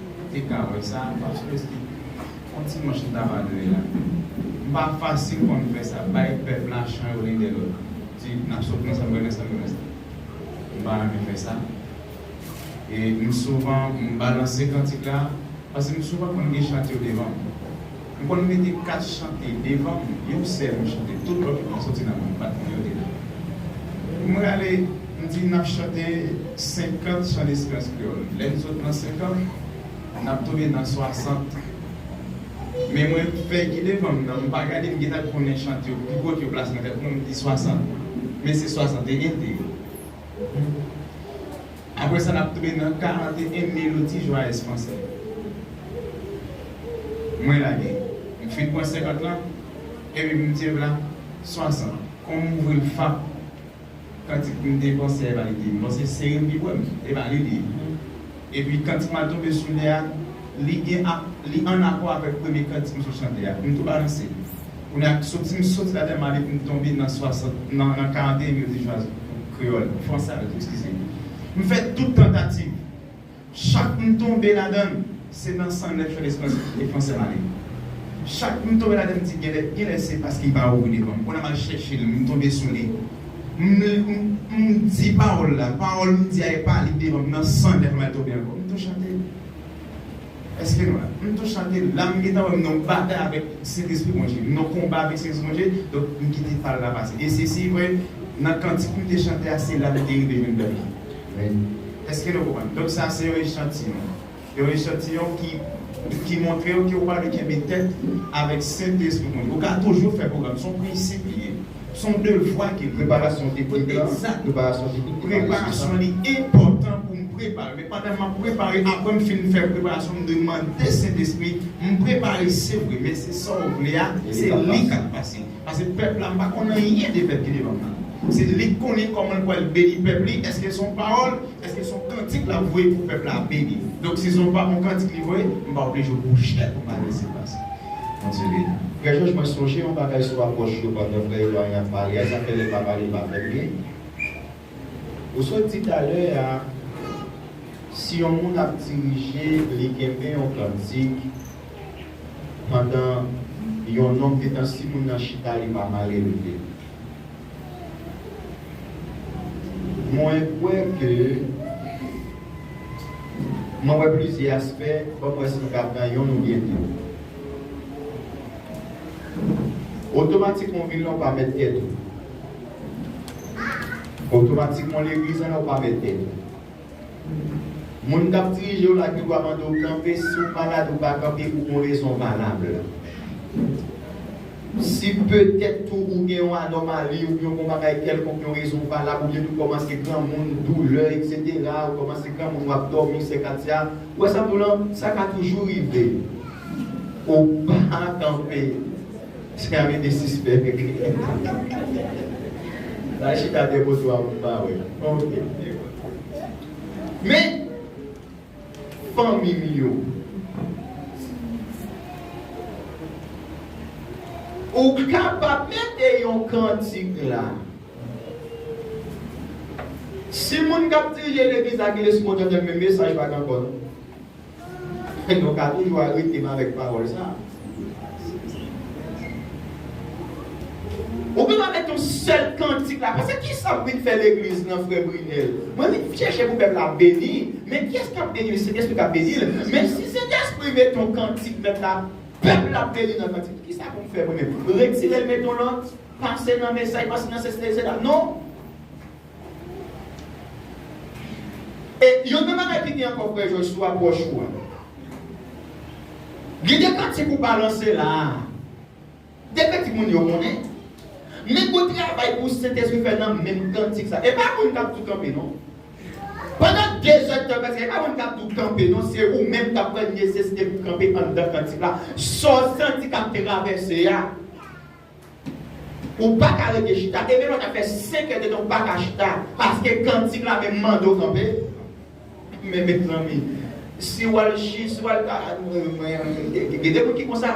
Ou te ka wè sa pasteurs ki Yon ti manch li tap adore la m pa fasil pou m fè sa bay pèp la chan yo len dè lòt di nap sot nan sa nou renmen sa nou renmen m pa renmen fè sa e m souvan m balanse kantik la paske m souvan konn gen chan ki yo devan m. M konn mete 4 chante devanm yon sèl m chante tout lòt yo ap soti nan menm pat mwen yo deja m rale m di nap chante 50 chan esperans kreyòl lèn sot nan 50 nap tonbe nan 60 men mwen fè ki devanm nan m pa gade m gentan konnen chante yo ki kote yo plase nan tèt mwen m di 60 men se 61 te ye. Apre sa, n ap tonbe nan 41 Mélodies joyeuses françaises. Mwen lage. M fin pran 50 lan, epi m di vla 60. Kon m ouvri l fap, kantik m te panse e pa li te ye. M panse seri m pi bwè m, e pa li li ye. Epi kantik m al tonbe sou li a, li gen, li ann akò avèk premye kantik m sot chante a. M tou balanse. Kounya soti m soti la tèlman m ale pou m tonbe nan 60 nan 41 yo di jwaz kreyòl fransè a yo di ekskize m m fè tout tantativ chak m tonbe ladan l se nan 109 yo lespanyòl e fransè m ale chak m tonbe ladan l m di genlè genlè se paske m pa ouvri devan m kounya m al chèche l m tonbe sou li m l m di pawòl la pawòl m di a e pa li devan m nan 109 m al tonbe ankò m tou chante. Eskim la. M tou chante la m gentan wè m nan yon batay avèk Sentespri Bondje. M nan yon konba avèk Sentespri Bondje, donk m kite pal la pase. E se si vre, nan kantik m te chante a, se la m te rive jwenn bèl la. Amen. Eske nou konprann? Donk sa a se yon echantiyon. Yon echantiyon ki ki montre w ke ou pa dwe kenbe tèt avèk Sentespri Bondye. Ou ka toujou fè pwogram. Se yon prensip li ye. Son devwa ke preparasyon teknik lan, preparasyon teknik pou pale sou sa. Preparasyon li enpòtan pou m prepare. Pandan m ap prepare, apre m fin fè preparasyon, m dwe mande Sentespri, m prepare se vre, men se sa w vle a, se li k ap pase. Pase pèp la, m pa konn anyen de pèp ki devan m nan. Se li k konnen kòman l pral beni pèp li, èske son pawòl, èske son kantik l ap voye pou pèp la beni. Donk si son pa on kantik li voye, m pa oblije bouche pou m adrese l pase. Bondye beni w. Frè Jòj mwen sonje yon bagay sou apwòch yo pandan frè Eloy ap pale a zafè lè pa pale pa fè byen. Ou sot di talè a si yon moun ap dirije li kenbe yon kantik pandan yon nonm te tan si moun nan chita li pa male leve. Mwen kwè ke Mwen wè plizyè aspè, banm wè si m ka pran yonn oubyen de. Otomatikman w vil la ou pa mèt tèt ou. Otomatikman w legliz la ou pa mèt tèt ou. Moun k ap dirije w la gen dwa mande w kanpe si w malad ou pa kanpe pou yon rezon valab. Si petèt tou ou gen yon anòmali oubyen yon bagay kèlkonk, yon rezon valab, oubyen tou kòmanse granmoun, doulè, eksetera, ou kòmanse granmoun, w ap dòmi, sè Katia, ou wè sa m di w lan, sa ka toujou rive. Ou pa kanpe. Chka rete sispèk ekri enkont. Sa chita de moso a moun pa wè. Ok. Men fanmi m yo. Ou kapab mete yon kantik la. Si moun k ap dirije legliz la gen lespri otantik men mesaj pa gen ankò non. Nou ka toujou arete m avèk pawòl sa. Ou gendwa met yon sèl kantik la pase kisa ou vin fè legliz nan frè Brinel? Mwen vin chèche pou pèp la beni, men kiyès kap beni l? Sentespri kap beni l, men si Sentespri met yon kantik mèt la pèp la ap beni nan kantik la, kisa pou m fè mwen menm? Retire l met yon lòt? Pase nan mesaj, pase nan sesi, sesi la? Non! E yon nan bagay ki gen ankò frè Jòj sou apwòch ou a. Gen de pratik ou balanse la a. De pratik moun yo konnen. Men gwo travay pou Sentespri fè nan menm kantik sa. E pa moun k ap tou kanpe non. Pandan dezèd tan prèske, e pa moun k ap tou kanpe non. Se ou menm k ap wè nesesite pou kanpe anndan kantik la. Sa w santi k ap travèse a. Ou paka rete chita e menm lè w ta fè 5 è de tan ou paka chita paske kantik la menm mande w kanpe men mezanmi si w al chi si w al ta gen de moun ki konsa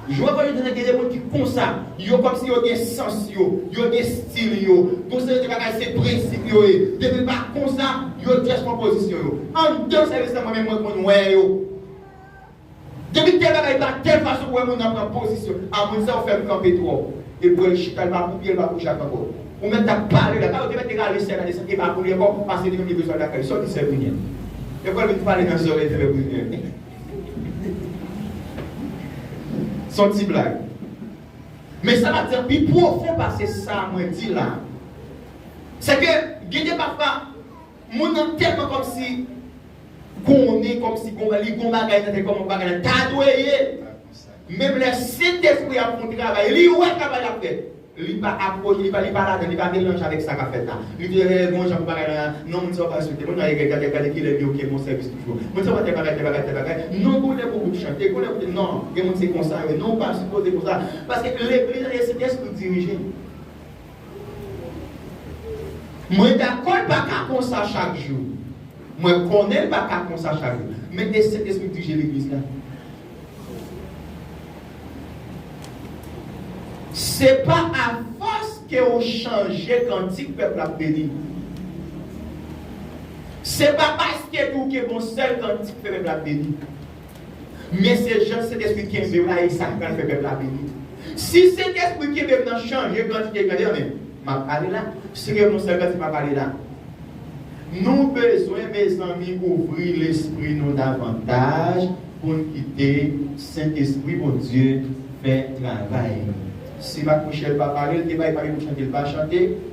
jwè vòlè gen de moun ki konsa yo kòmsi yo gen sans yo yo gen stil yo gon seri de bagay se prensip yo ye depi l pa konsa yo just pran pozisyon yo andan sèvis la mwen menm mwen konn wè yo. Depi kè bagay pa kè fason pou wè moun nan pran pozisyon a moun sa ou fèm kanpe twòp epou el chita li pa pou pye li pa pou jak ankò ou mèt tap pale la ta ou te mèt rale sè la desann epa pou li ankò pase li menm li bezwen al lakay li sa ou di sè Brunie e pou el vin pale nan zòrèy sè Brunie son ti blag men sa map di an pi pwofon pase sa mwen di la sè ke gen de pafwa. Moun nan telman komsi konnen komsi gon li gon bagay nan tèt koman bagay la ta dwe ye menm lè sentespri ap fon travay li wè travay lap fè li pa aproche li pa li pa ladann li pa melanje avèk sa kap fèt la li di ee gon jan pou bagay la non moun sa yo pa respekte moun nan egre gade gade kilè li ok bon sèvis toujou moun sa yo pa tèl bagay tèl bagay tèl bagay non gon lè pou group chante gon lè pou non gen moun se konsa yo ye non ou pa sipoze konsa paske legliz la se sentespri ki dirije. Mwen dakò l pa ka konsa chak jou. Mwen konnen l pa ka konsa chak jou. Men e Sentespri k dirije Legliz la. Se pa a fòs ke ou chanje kantik pèp la ap beni. Se pa paske ke ou gen bon sèl kantik ke pèp la ap beni. Mesye jan sentespri kenbew la e sak pral fè pèp la beni si sentespri kenbem nan chanje kantite gade anmè map pale la sirem non sèl kantite map pale la nou bezwen mezanmi ouvri lespri nou davantaj poun kite sentespri bondye fè travay li si mak michel pa pale li te bay pale pou chante li pa chante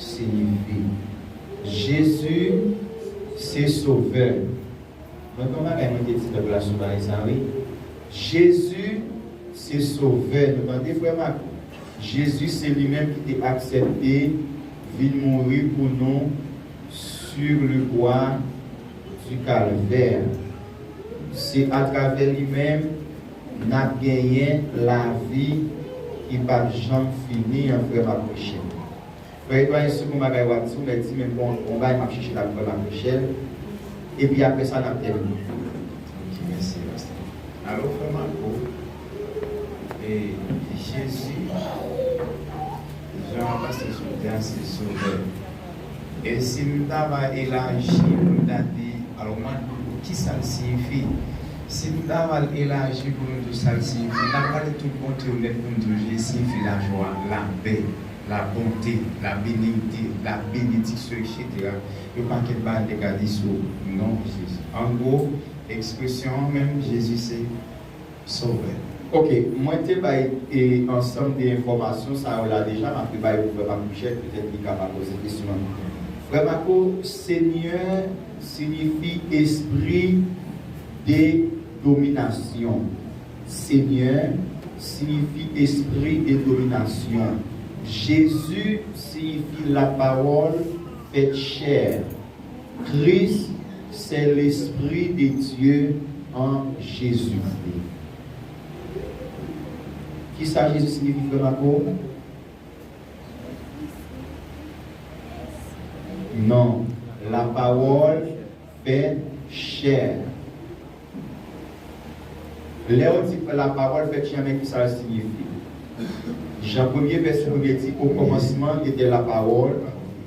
siyifi Jezi se sovè Mwen gen yon bagay mwen te di pèp la sou bagay sa wi Jezi se sovè nou tande frè m ak Jezi se li menm ki te aksèpte vin mouri pou nou sur le bois du calvaire se atravè li menm Nap genyen lavi ki pap janm fini an frèm ak Michel. Frè Edouard gen second bagay wap di ou mèt di men bon on bagay map chèche la frèm ak Michel epi aprè sa nap tèmine ok mèsi pastè. Alo frè Marco e Jezi jan pastè sot di a se sovè. E si m ta va elaji pou m ta di, alò m ap di w tou kisa l siyifi. Si m ta va l elaji pou nou tou sa l siyifi, n ap pale tout bon ti yo nèt pou n di w je siyifi lajwa, lapè, labonte, labenite, labenediksyon eksetera. Yo pakèt bagay n te ka di sou non Jezi. Angwo, ekspresyon an menm Jezi se. Sovè. Ok, mwen te bay e ansanm de enfòmasyon sa yo la deja, m ap rebay pou frè Marc Michel, petèt li ka pa poze kesyon an. Frè Marco, Senyè signifi espri de dominasyon. Senyè signifi espri de dominasyon. Jezi signifi lapawòl fèt chè. Kris se Lespri de Dye an Jezikri. Kisa Jezi siyifi frè Mako? Non, la pawòl fèt chè. Lèw di pran la pawòl fèt jamè kisal siyifi? Jan premye vèsyon nou te di o kòmansman etè la pawòl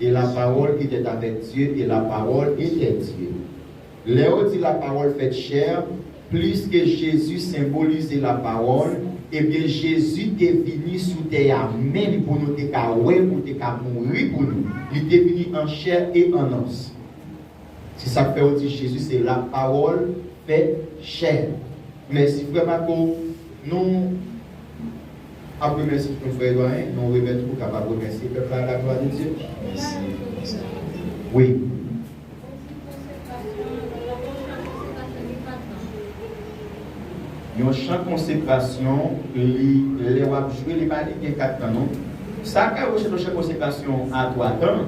e la pawòl etèt avèk Dye e la pawòl etè Dye. Lèw di la pawòl fèt chè, pliske Jezi senbolize la pawòl, ebyen Jezi te vini sou tè a menm pou nou te ka wè, pou te ka mouri pou nou. Li te vini an chè e an os. Se sak fè yo di Jezi se la pawòl fè chè. Mèsi frè Marco nou ap remèsye nou frè Doyen nou remèt ou kapab remèsye pèp la la glwa de Dye. Mèsi mèsi anpil. Wi. Yon chan konsekrasyon li lè wap jwe li pa di gen 4 tan non. Sa ka yon chan konsekrasyon a 3 tan.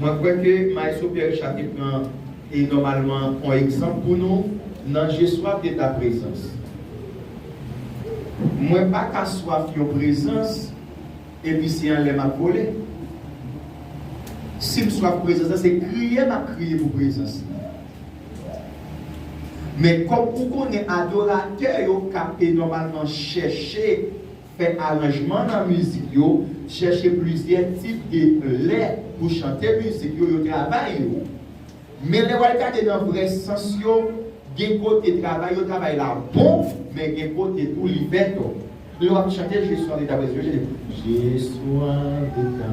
Mwen kwè ke Maestro Pierre Richard te pran e nòmalman on egzanp pou nou nan je swaf de ta prezans. Mwen pa ka swaf yon prezans epi se anlè m ap vole. Si m swaf prezans la, se kriye m ap kriye pou prezans li. Men kòm ou konnen adoratè yo ka e nòmalman chèche. fè aranjman nan mizik yo, chèche plizyè tip de lè pou chante mizik yo, yo travay yo. Men lè w al gade nan vrè sans yo, gen kote travay yo travay la bon, men gen kote tou li fè tò. Lè w ap chante Je sois de ta presenceJe sois de ta.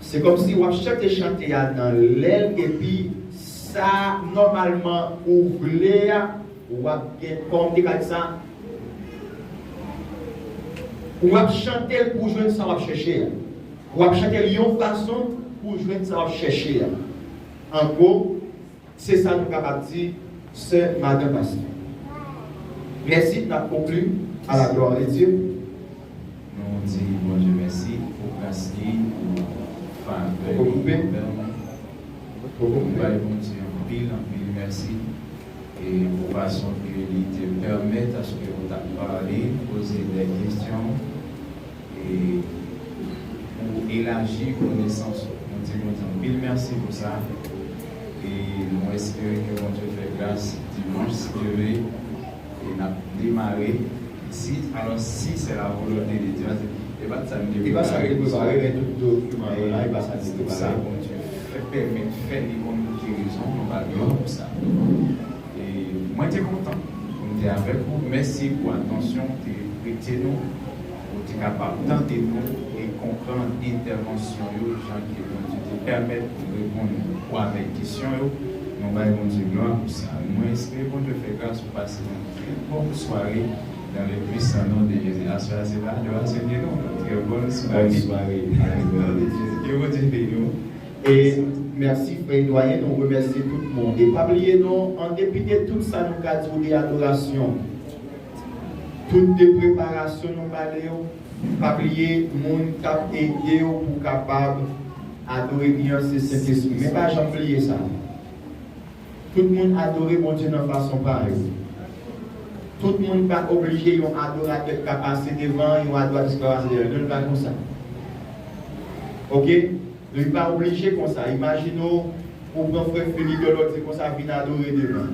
Se komsi wap chante chante a nan lèl epi sa nòmalman ou vle a wap gen kòm te ka di sa wap chantel pou jwenn sa wap chèche a wap chantel yon fason pou jwenn sa wap chèche a an gwo Se sa nou kapab di sè madan pastè. Mèsi nap konkli a la glwa de Dye. Nou di Bondye mèsi pou gras li, pou favè li anvè nou. Nou bay Bondye anpil anpil mèsi e pou fason ke li te pèmèt aske ou ta pale, poze de kesyon. e pou elaji konesans ou nou di Bondye anpil mèsi pou sa e nou espere ke Bondye fè gras dimanch skire e nap demare. Si alò si se la volonte de Dieu ase e pa sa nou te prepare pou sa e pou sa Bondye fè pèmèt fè li konn pou ki rezon nou pa glwa pou sa. Mwen te kontan pou m te avèk ou. Mèsi pou atansyon ou te prete nou. Ou te kapab tande nou e konprann entèvansyon yo jan ke Bondye te pèmèt nou reponn ou avèk kesyon yo. Nou bay Bondye glwa pou sa. Mwen espere Bondye fè gras ou pase yon trè bòn sware dans le puissant nom de Jésus. Aswè a se pa adoration ke nou. Yon trè bòn sware. Bòn sware. Amen. Gloire de Dieu. Ke Bondye beni w. E merci frè Doyen nou remèsye tout moun e pa bliye non an depi de tout sa nou ka diw de adorasyon tout de preparasyon nou balew pa bliye moun kap edew pou kapab adore byen an se Sentespri men pa janm bliye sa tout moun adore Bondye nan fason pa yo tout moun pa oblije yon adoratè ka pase devan yon adoratris ka pase dèyèl non li pa konsa ok. Li pa oblije konsa. Imajine w ou pran frè Felipe yon lòt di konsa vin adore devan.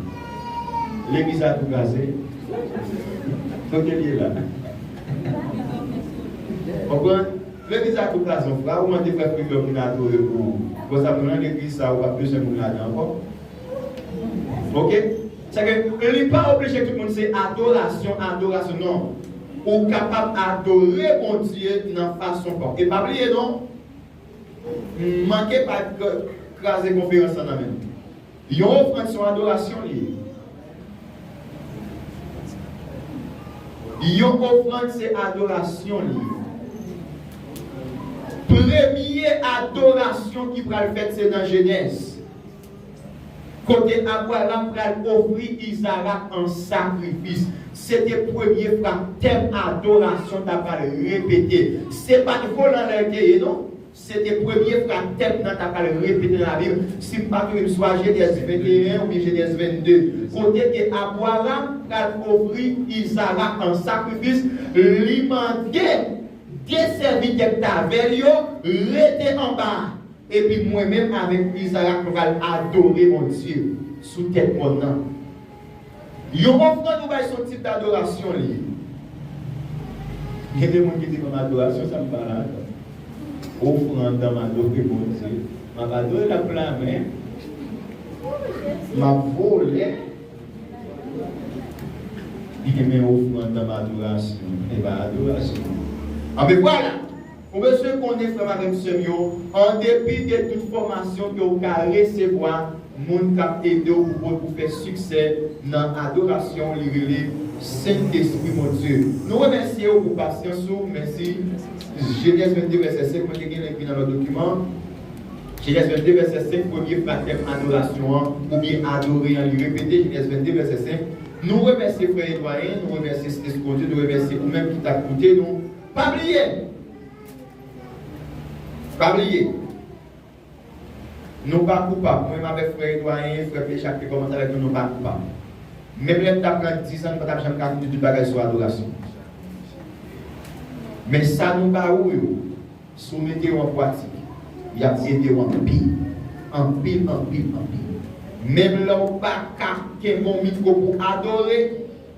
Legliz la tou kraze. Kote l ye la? Konprann? Legliz la tou kraze yon fwa, ou mande frè Felipe yon vin adore pou ou. Konsa moun nan legliz sa ou pap bezwen moun ladan ankò. Ok? Sa vle di li pa oblije tout moun se adorasyon, adorasyon. Non. Ou kapab adore Bondye nan fason pa w. E pa bliye non. M manke pa kraze konferans lan nan menm. Yon ofrann se yon adorasyon li ye. Yon ofrann se adorasyon li ye. Premye adorasyon ki pral fèt se nan Jenèz. Kote Abraram pral ofri Izarak an sakrifis, se te premye fwa tèm adorasyon ta pral repete. Se pa t volan lè l te ye non. Se te premye fwa tèm nan ta pral repete nan Labib, si m pa tonbe m swa Jenèz 21 oubyen Jenèz 22, kote ke Abraram pral ofri Izarak an sakrifis, li mande de sèvitè k t avè l yo rete anba a. Epi mwen menm avèk Izarak nou pral adore Bondye sou tèt mòn nan. Yon ofrann ou bay son tip dadorasyon li ye. Gen de moun ki di m ap adore a, se sa m pa dakò. Ofrann nan m adore Bondye, m ap adore l ak pla men, m ap vole. Men ofrann nan m adorasyon, e pa adorasyon. Anben vwala! Ou bezwen konnen frè m avè m sè m yo, an depi de tout fòmasyon ke ou ka resevwa, moun kap ede w pou pou pou fè siksè nan adorasyon w li rele Sentespri Bondye. Nou remèsye ou pou pasyans ou, mèsi. Jenèz 22 vèsè 5, mwen te gen link li nan lòt dokiman an. Jenèz 22 vèsè 5, premye fratèm adorasyon an, oubyen adore an li repete, Jenèz 22 vèsè 5. Nou remèsye frè e dwayen, nou remèsye Sentespri Bondye, nou remèsye ou menm ki tap koute nou. Pa bliye! Pa bliye! Nou pa koupab. Mwen menm avèk frè Edwaryen, frè Plechan ki te kòmanse avèk nou, nou pa koupab. Menm lè m t ap pran dizan, nou pa t ap janm ka fin di tout bagay sou adorasyon. Men sa nou ba ou yo, si w mete yo an pwatik, y ap ede w anpil. Anpil, anpil, anpil. Menm lè w pa ka kenbe yon mikwo pou w adore.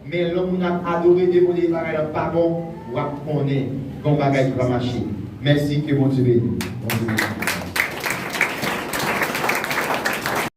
Men lè moun ap adore demode bagay lan pa bon wap konnen gon bagay ki pa mache mèsi ke bondye beniw.